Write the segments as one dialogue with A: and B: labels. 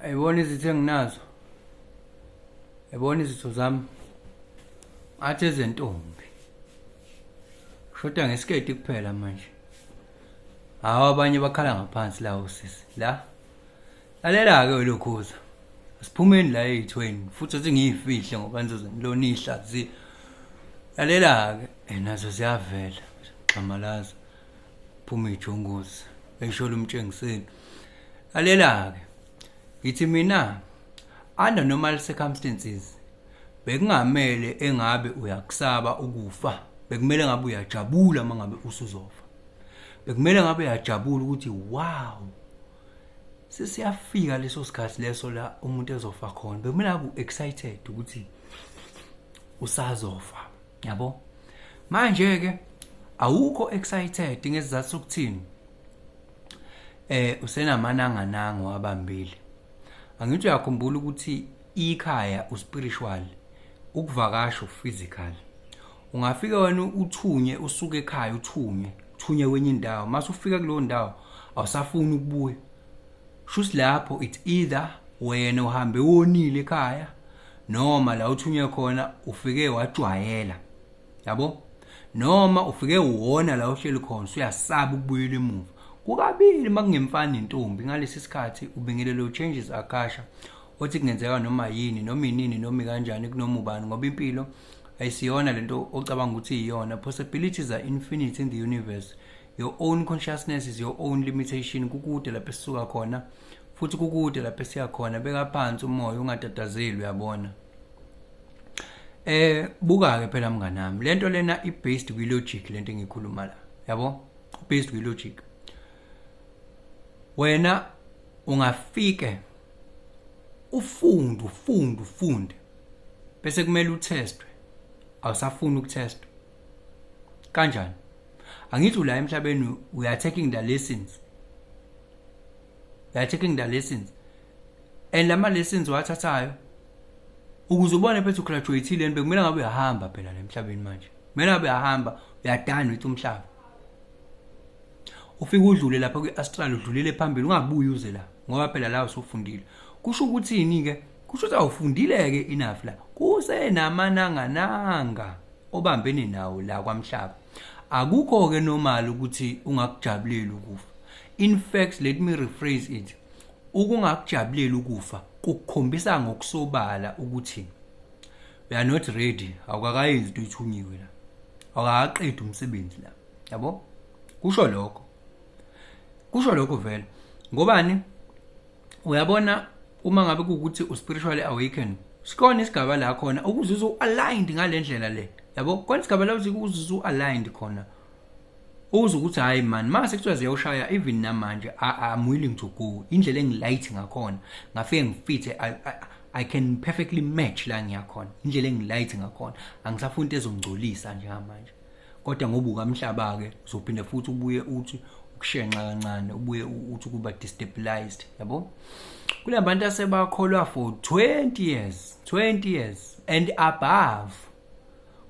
A: ayibona izitho enginazo ayibona izitho zami athi ezentombi shoda ngesiketi kuphela manje hawu abanye bakhala ngaphansi la usisi la lalela-ke welokhuza asiphumeni la eyithweni futhi athi ngiyifihle ngoba nizoze ngilona ihlaziya lalela-ke nazo ziyavela xamalaza phuma ijongozi esholo umtshengiseni alela-ke ngithi mina under normal circumstances bekungamele engabe uyakusaba ukufa bekumele ngabe uyajabula uma ngabe usuzofa bekumele ngabe uyajabula ukuthi wow sesiyafika leso sikhathi leso la umuntu ezofa khona bekumele ngabe u-excited ukuthi usazofa yabo manje ke awukho excited ngezizathu sokuthini eh usenamananga nango abambile angithi uyakhumbula ukuthi ikhaya uspiritual ukuvakasha physical ungafika wena uthunye usuke ekhaya uthunye uthunye kwenye indawo mase ufika kuleyo ndawo awusafuni ukubuya shuthi lapho it's either wena uhambe wonile ekhaya noma la uthunywe khona ufike wajwayela yabo noma ufike wona la uhleli khona usuyasaba ukubuyela emuva kukabili makungemfana nentombi ngalesi sikhathi ubingelelo changes akasha othi kungenzeka noma yini noma inini noma kanjani kunoma ubani ngoba impilo ayisiyona lento ocabanga ukuthi iyona possibilities are infinite in the universe your own consciousness is your own limitation kukude lapho esisuka khona futhi kukude lapho esiya khona beka phansi umoya ungatatazeli uyabona eh buka ke phela mngane wami lento lena i based kwi logic lento engikhuluma la yabo based kwi logic wena ungafike ufunde ufunde ufunde bese kumele uthestwe awusafuni ukuthestwa kanjani angithi ula emhlabeni we are taking the lessons we are taking the lessons and lama lessons wathathayo ukuze ubone phethu graduateile nto kumele ngabe uyahamba phela lemhlabeni manje kumele ngabe uyahamba uyadana uthi umhlaba ufike udlule lapha kwi-astral udlulele phambili ungabuyi uze la ngoba phela la usufundile kusho ukuthini-ke kusho ukuthi awufundile-ke enough la kusenamanangananga obambene nawo la kwamhlaba akukho-ke normal ukuthi ungakujabuleli ukufa in fact let me rephrase it ukungakujabuleli ukufa kukukhombisa ngokusobala ukuthi we are not ready awukakayenzi into ethunyiwe la awukaqedi umsebenzi la yabo kusho lokho kusho lokho vele ngobani uyabona uma ngabe kuwukuthi uspiritually awaken sikhona isigaba la khona ukuzuza u-aligned ngale ndlela le yabo khona isigaba la uthi ukuzuza u-aligned khona uze ukuthi hhayi mani mase kuthiwa ziyawushaya even namanje i'm willing to go indlela engilight ngakhona ngafike ngifithe I can perfectly match la ngiyakhona indlela engilight ngakhona angisafuni into ezongcolisa njengamanje kodwa ngoba ukamhlaba-ke uzophinde futhi ubuye uthi ukushenxa kancane ubuye uthi ukuba destabilized yabo kule bantu asebakholwa for 20 years 20 years and above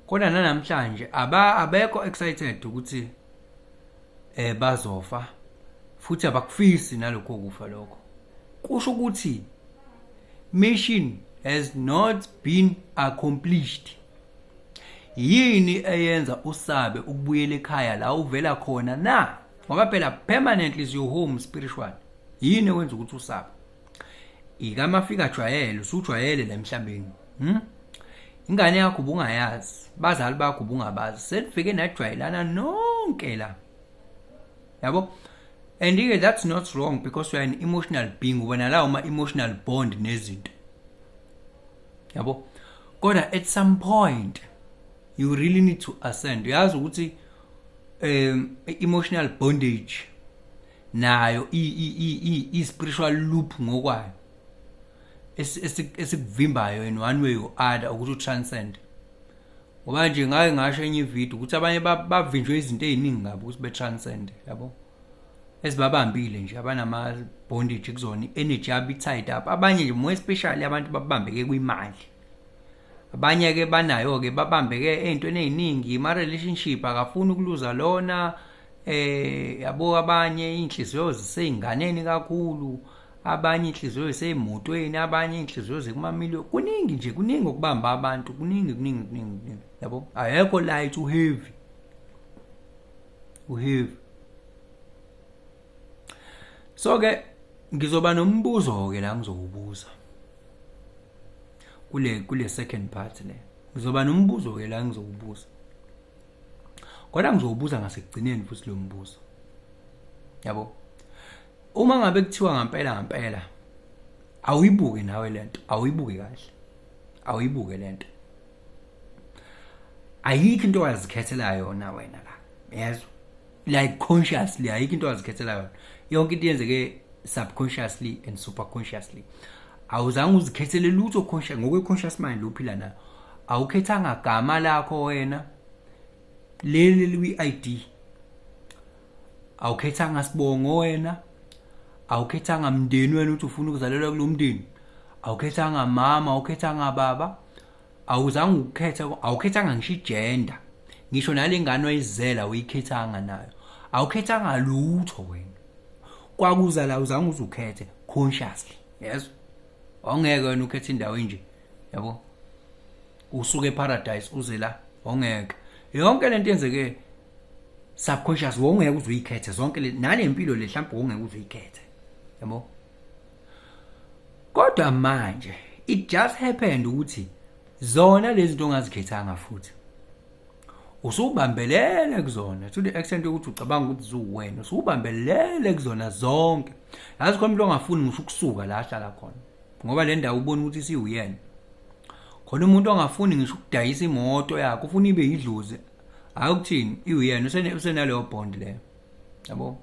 A: kodwa nanamhlanje aba abekho excited ukuthi eh bazofa futhi abakufisi nalokho kufa lokho kusho ukuthi mission has not been accomplished Yini eyenza usabe ukubuyela ekhaya la uvela khona na? Ngoba phela permanently is your home spiritual. Yini ewenza ukuthi usabe? Ika mafika jwayele, usujwayele la emhlabeni. Hmm? Ingane yakho ubungayazi, bazali bakho ubungabazi. Senifike najwayelana nonke la. Yabo? And ke that's not wrong because you are an emotional being, wena la uma emotional bond nezinto. yabo kodwa at some point you really need to ascend uyazi ukuthi um emotional bondage nayo i i i spiritual loop ngokwayo esikuvimbayo in one way or other ukuthi utranscend ngoba nje ngake ngasho enye ivideo ukuthi abanye bavinjwe izinto eziningi ngabo ukuthi betranscend yabo ezibabambile nje abanama bondage kuzona energy yabo tied up abanye nje more especially abantu babambeke kwimali abanye ke banayo ke babambeke ezintweni eziningi ma relationship akafuni ukuluza lona eh yabo abanye inhliziyo zisezinganeni kakhulu abanye inhliziyo ziseyimotweni abanye inhliziyo zikumamiliyoni kuningi nje kuningi okubamba abantu kuningi kuningi kuningi yabo ayekho light u heavy uhiv so ke ngizoba nombuzo ke la ngizowubuza kule kule second part le ngizoba nombuzo ke la ngizowubuza kodwa ngizowubuza ngasekugcineni futhi lo mbuzo yabo uma ngabe kuthiwa ngampela ngampela awuyibuke nawe lento awuyibuke kahle awuyibuke lento ayikho into owazikhethela yona wena la yezwa like consciously ayikho into owazikhethela yona yonke into yenzeke subconsciously and superconsciously awuzange uzikhethele lutho conscious ngokwe conscious mind lophila nayo awukhethanga gama lakho wena leli liyi-ID awukhethanga sibongo wena awukhethanga mndeni wena ukuthi ufuna ukuzalelwa kulo mndeni awukhethanga mama awukhethanga baba awuzange ukukhetha awukhethanga ngisho igender ngisho nale ngane oyizela uyikhethanga nayo awukhethanga lutho wena kwakuza la uzange uzukhethe consciously yes awungeke wena ukhethe indawo enje yabo usuke eparadise uze la awungeke yonke lento yenzeke subconscious wongeke uze uyikhethe zonke nale mpilo le mhlawumbe wongeke uze uyikhethe yabo kodwa manje it just happened ukuthi zona lezi zinto ongazikhethanga futhi usubambelele kuzona to the extent yokuthi ucabanga ukuthi zuwena usubambelele kuzona zonke yazi khona umuntu ongafuni ngisho ukusuka la ahlala khona ngoba le ndawo ubona ukuthi siwuyena khona umuntu ongafuni ngisho ukudayisa imoto yakhe ufuna ibe yidlozi hayi ukuthini iwuyena usene usenaleyo bond leyo yabo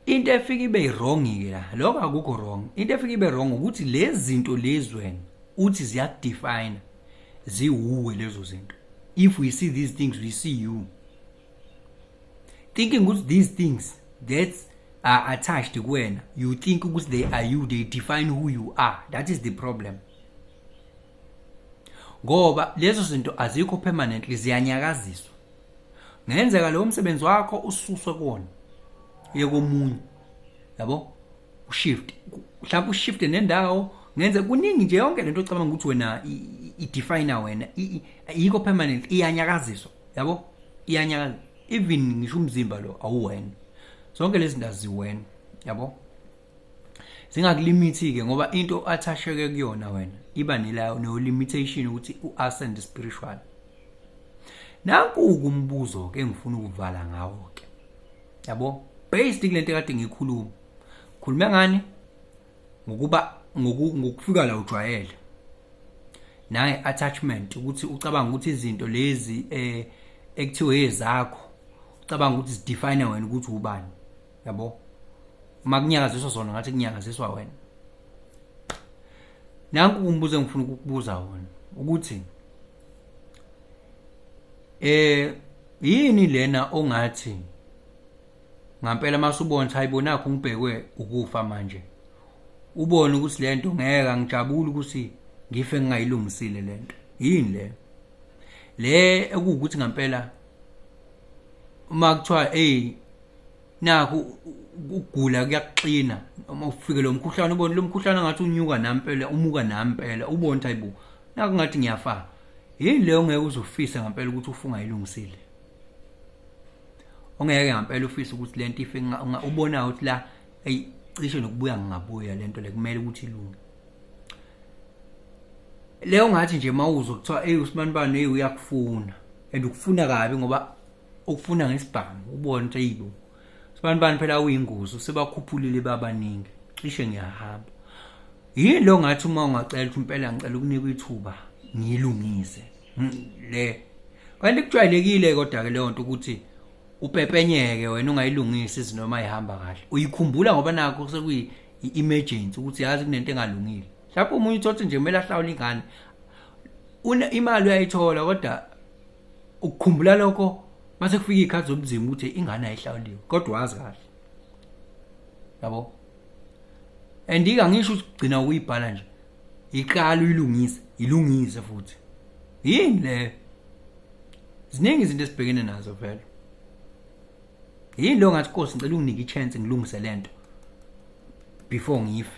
A: into efika ibe wrong ke la lokho akukho wrong into efika ibe wrong ukuthi lezi zinto lezi wena uthi ziyakudefine ziwuwe lezo zinto if we see these things we see you thinking ukuthi these things that are attached kuwena you think ukuthi they are you they define who you are that is the problem ngoba lezo zinto azikho permanently ziyanyakaziswa ngenzeka leyo msebenzi wakho ususwe kuwona uye komunye yabo ushift mhlawumbe ushift nendawo ngenze kuningi nje yonke lento ocabanga ukuthi wena idefine wena ayikho permanent iyanyakaziswa yabo iyanyakaza even ngisho umzimba lo awuwena zonke lezi ndazi wena yabo zingakulimithi-ke ngoba into athasheke kuyona wena iba nelayo no-limitation ukuthi u-ascend spiritual nanku-ke umbuzo-ke engifuna ukuvala ngawo-ke yabo based kule nto kade ngikhuluma khulume ngani ngokuba ngokufika la ujwayele naye attachment ukuthi ucabanga ukuthi izinto lezi eh ekuthiwe ezakho ucabanga ukuthi zidefine wena ukuthi ubani yabo uma kunyakaziswa zona ngathi kunyakaziswa wena nanku umbuzo engifuna ukukubuza wona ukuthi eh yini lena ongathi ngampela masubona ukuthi hayibo nakho ngibhekwe ukufa manje ubone ukuthi lento ngeke ngijabule ukuthi ngife ngingayilungisile lento yini le le ekuwukuthi ngampela uma kuthiwa hey naku ukugula kuyakuxina uma ufike lo mkhuhlane ubone lo mkhuhlane ngathi unyuka nampela umuka nampela ubone ukuthi ayibo naku ngathi ngiyafa yini leyo ngeke uzofisa ngampela ukuthi ufunga ilungisile ongeke ngampela ufisa ukuthi lento ife ubona ukuthi la ayi cishe nokubuya ngingabuya lento le kumele ukuthi ilunge leyo ngathi nje mawuzo kuthiwa hey usibanibani hey uyakufuna and ukufuna kabi ngoba ukufuna ngesibhamu ubone ukuthi ayibo abantu bani phela uyingozi usebakhuphulile babaningi cishe ngiyahamba yini lo ngathi uma ungacela ukuthi impela ngicela ukunika ithuba ngilungise hmm, le kanti kujwayelekile kodwa ke leyo nto ukuthi upepenyeke wena ungayilungisi izinoma ihamba kahle uyikhumbula ngoba nakho sekuyi emergency ukuthi yazi kunento engalungile lapho umunye uthothi nje kumele ahlawule ingane imali uyayithola kodwa ukukhumbula lokho mase kufika ikhathi zobunzima ukuthi ingane ayihlawuliwe kodwa wazi kahle yabo andika ngisho ukugcina ukuyibhala nje iqala uyilungise ilungise futhi yini le ziningi izinto esibhekene nazo vele yini lo ngathi Nkosi ngicela unginike ichance ngilungise lento before ngife